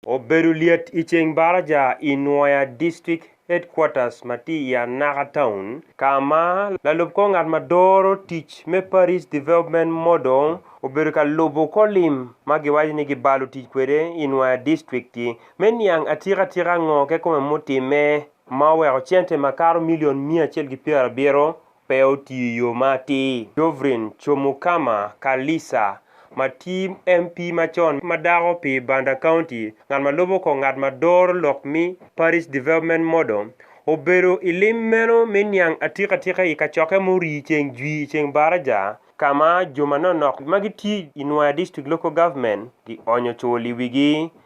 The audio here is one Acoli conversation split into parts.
Obedo lyet i ceng baraja i Nwoya District Headquarters ma tye i Anaka Town ka ma lalub kor ngat ma doro tic me Parish Development Model obedo ka lubo kor lim ma giwaco ni gibalo tic kwede i Nwoya District-ti me niang atika tika ngo kekome mutimme ma oweko cente makato milion miya acel ki pyerabiro pe otiyo i yo ma atir. Dovrin Chomukama Kalisa, ma tye MP macon ma dako pi Banda County, ngat ma lubo kong ngat ma doro lok me Parish Development Model, obedo i lim meno me niang atikatika i kacokke ma orii ceng jwii i Ceng Baraja, ka ma jo manonok ma gitye i Nwoya District Local Government gionyo cul i wigi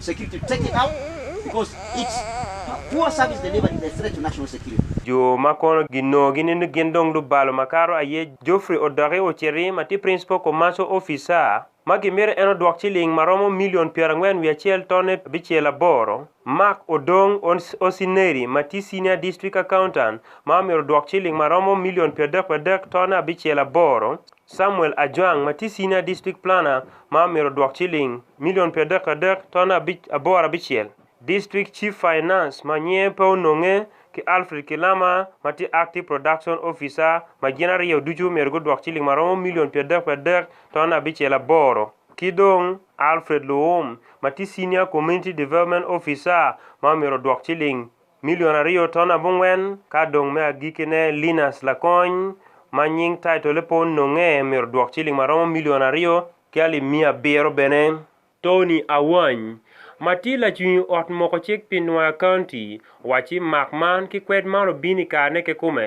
Security taking out because its poor service delivered is a threat to national security. Jo ma kono ginongo ginindo gin dong lubalo makato aye Geoffrey Odoki Oceri ma tye Principal Commercial Officer ma gimito en odwok ciling ma romo milion pyerangwen wiye acel tone abicel aboro, Mark Odong Osineri ma tye Senior District Accountant ma omyero odwok ciling ma romo milion pyeradek pyeradek tone abicel aboro, Samuel Ajwang ma tye Senior District Planner ma omyero odwok ciling milion pi adek adek ton abic aboro abicel, District Chief Finance ma nyinge pe ononge ki Alfred Kilama ma tye Active Production Officer ma gin aryo ducu omyero gudwok ciling ma romo milion pi adek pi adek ton abicel aboro ki dong Alfred Luwum ma tye Senior Community Development Officer ma omyero odwok ciling Milion aryo ton abongwen, ka dong me agikkine Linus Lakony, ma nying taitole pe ononge, myero odwok ciling ma romo milion aryo ki alip miya abiro bene. Tony Awany, ma tye lacwiny ot moko cik pi Nwoya County, owaco ci mak man ki kwed man obin i karene kekome,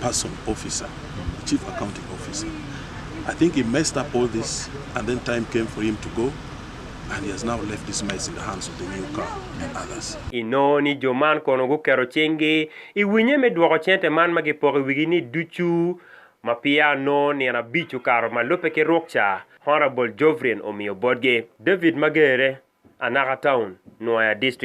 person officer chief accounting officer I think he messed up all this and then time came for him to go and he has now left this mess in the hands of the new car and others. Inongo ni jo man kono guketo cinggi i winye me dwoko cente man ma gipoko i wigi ni ducu ma peya onongo nino abic okato ma lubbe ki ruk ca Honourable Jovrin omiyo botgi. David Magere, Anaka Town, Nwoya District.